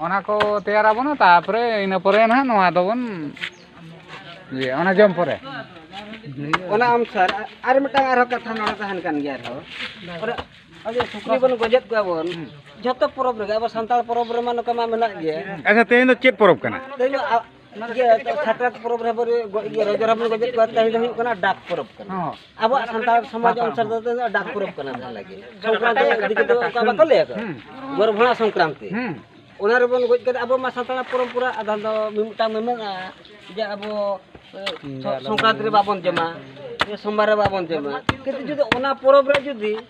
ᱚᱱᱟ ᱠᱚ ᱛᱮᱭᱟᱨ ᱟᱵᱚᱱᱟ ᱛᱟᱨᱯᱚᱨᱮ ᱤᱱᱟᱹ ᱯᱚᱨᱮ ᱱᱟᱦᱟᱜ ᱱᱚᱣᱟ ᱫᱚᱵᱚᱱ ᱤᱭᱟᱹ ᱚᱱᱟ ᱡᱚᱢ ᱯᱚᱨᱮ ᱚᱱᱟ ᱟᱢ ᱥᱟᱨ ᱟᱨ ᱢᱤᱫᱴᱟᱝ ᱟᱨᱦᱚᱸ ᱠᱟᱛᱷᱟ ᱱᱚᱰᱮ ᱛᱟᱦᱮᱱ ᱠᱟᱱ ᱜᱮᱭᱟ ᱟᱨᱦᱚᱸ ᱚᱱᱟ ᱟᱵᱚ ᱥᱩᱠᱨᱤ ᱵᱚᱱ ᱜᱚᱡᱮᱫ ᱠᱚᱣᱟ ᱵᱚᱱ ᱡᱷᱚᱛᱚ ᱯᱚᱨᱚᱵᱽ ᱨᱮᱜᱮ ᱟᱵᱚ ᱥᱟᱱᱛᱟᱲ ᱯᱚᱨᱚᱵᱽ ᱨᱮᱢᱟ ᱱᱚᱝᱠᱟ ᱢᱟ ᱢᱮᱱᱟᱜ ᱜᱮ ᱟᱪᱪᱷᱟ ᱛᱮᱦᱮᱧ ᱫᱚ ᱪᱮᱫ ᱯᱚᱨᱚᱵᱽ ᱠᱟᱱᱟ ᱛᱮᱦᱮᱧ ᱫᱚ ᱥᱟᱠᱨᱟᱛ ᱯᱚᱨᱚᱵᱽ ᱨᱮ ᱨᱚᱡᱚ ᱨᱟᱵᱚᱱ ᱜᱚᱡᱮᱫ ᱠᱚᱣᱟ ᱛᱮᱦᱮᱧ ᱫᱚ ᱦᱩᱭᱩᱜ ᱠᱟᱱᱟ ᱰᱟᱠ ᱯᱚᱨᱚᱵᱽ ᱠᱟᱱᱟ ᱟᱵᱚᱣᱟᱜ ᱥᱟᱱᱛᱟᱲ ᱥᱚᱢᱟᱡᱽ ᱚᱱᱥᱟᱨ ᱫᱚ ᱰᱟᱠ ᱯᱚᱨᱚᱵᱽ ᱠᱟᱱᱟ ᱡᱟᱦᱟᱸ ᱞᱟᱹᱜᱤᱫ ᱥᱚᱝᱠᱨᱟᱱᱛᱤ ᱤᱫᱤ ᱠᱟᱛᱮ ᱚᱱᱠᱟ ᱵᱟᱠᱚ ᱞᱟᱹᱭ ᱟᱠᱚ ᱜᱚᱨᱵᱷᱚᱬᱟ ᱥᱚᱝᱠᱨᱟᱱᱛᱤ ᱚᱱᱟ ᱨᱮᱵᱚᱱ ᱜᱚᱡ ᱠᱟᱛᱮ ᱟᱵᱚ ᱢᱟ ᱥᱟᱱᱛᱟᱲ ᱯᱚᱨᱚᱢᱯᱚᱨᱟ ᱟᱫᱷᱟᱱ ᱫᱚ ᱢᱤᱢᱤᱫᱴᱟᱝ ᱢᱮᱢᱮᱱᱟ ᱡᱮ ᱟᱵᱚ ᱥᱚᱝᱠᱨᱟᱱᱛᱤ ᱨᱮ ᱵᱟᱵᱚᱱ ᱡᱚᱢᱟ ᱥᱚᱢᱵᱟᱨ ᱨᱮ ᱵᱟᱵᱚᱱ ᱡᱚᱢᱟ ᱠᱤᱱᱛᱩ ᱡᱩᱫᱤ ᱚᱱᱟ ᱯᱚᱨᱚᱵᱽ ᱨᱮ ᱡᱩᱫᱤ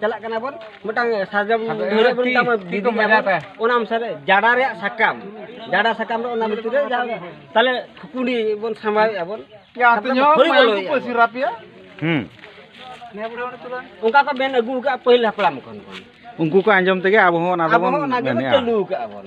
ᱪᱟᱞᱟᱜ ᱠᱟᱱᱟ ᱵᱚᱱ ᱢᱤᱫᱴᱟᱝ ᱥᱟᱨᱡᱚᱢ ᱰᱷᱟᱹᱨᱟᱹᱜ ᱵᱚᱱ ᱢᱮᱛᱟᱜ ᱵᱚᱱ ᱵᱤᱫᱤ ᱧᱟᱢᱚᱜ ᱚᱱᱟ ᱚᱱᱩᱥᱟᱨᱮ ᱡᱟᱰᱟ ᱨᱮᱭᱟᱜ ᱥᱟᱠᱟᱢ ᱡᱟᱰᱟ ᱥᱟᱠᱟᱢ ᱨᱮ ᱚᱱᱟ ᱵᱷᱤᱛᱤᱨ ᱨᱮ ᱡᱟᱦᱟᱸ ᱛᱟᱦᱞᱮ ᱠᱩᱠᱩᱰᱤ ᱵᱚᱱ ᱥᱟᱢᱵᱟᱣᱮᱫᱼᱟ ᱵᱚᱱ ᱦᱩᱸ ᱚᱱᱠᱟ ᱠᱚ ᱢᱮᱱ ᱟᱹᱜᱩ ᱟᱠᱟᱫᱼᱟ ᱯᱟᱹᱦᱤᱞ ᱦᱟᱯᱲᱟᱢ ᱠᱷᱚᱱ ᱩᱱᱠᱩ ᱠᱚ ᱟᱸᱡᱚᱢ ᱛᱮᱜᱮ ᱟᱵᱚ ᱦᱚᱸ ᱚᱱᱟ ᱫᱚᱵᱚᱱ ᱢᱮᱱᱮᱫᱼᱟ ᱟᱵᱚ ᱦᱚᱸ ᱚᱱᱟ ᱜᱮᱵᱚᱱ ᱪᱟᱹᱞᱩ ᱟᱠᱟᱫᱼᱟ ᱵᱚᱱ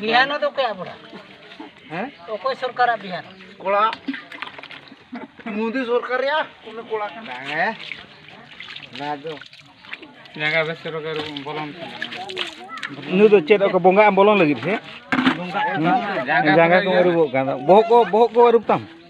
ᱵᱤᱦᱟᱱ ᱫᱚ ᱚᱠᱚᱭᱟᱜ ᱵᱚᱲᱟ ᱦᱮᱸ ᱚᱠᱚᱭ ᱥᱚᱨᱠᱟᱨᱟᱜ ᱵᱤᱦᱟᱱ ᱠᱚᱲᱟ ᱢᱳᱫᱤ ᱥᱚᱨᱠᱟᱨ ᱨᱮᱭᱟᱜ ᱩᱱᱤ ᱠᱚᱲᱟ ᱠᱟᱱᱟ ᱦᱮᱸ ᱚᱱᱟ ᱫᱚ ᱡᱟᱸᱜᱟ ᱵᱮᱥ ᱨᱚᱜᱮ ᱵᱚᱞᱚᱱ ᱱᱩᱭ ᱫᱚ ᱪᱮᱫ ᱚᱠᱟ ᱵᱚᱸᱜᱟ ᱮᱢ ᱵᱚᱞᱚᱱ ᱞᱟᱹᱜᱤᱫ ᱥᱮ ᱡᱟᱸᱜᱟ ᱠᱚ ᱟᱹᱨᱩᱵᱚᱜ ᱠᱟᱱᱟ ᱵᱚᱦᱚᱜ ᱠᱚ ᱵᱚᱦᱚᱜ ᱠᱚ ᱟᱹᱨᱩᱵ ᱛᱟᱢ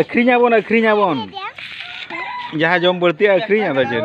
ᱟᱹᱠᱷᱨᱤᱧ ᱟᱵᱚᱱ ᱟᱹᱠᱷᱨᱤᱧ ᱟᱵᱚᱱ ᱡᱟᱦᱟᱸ ᱡᱚᱢ ᱵᱟᱹᱲᱛᱤᱜᱼᱟ ᱟᱹᱠᱷᱨᱤᱧ ᱟᱫᱚ ᱪᱮᱫ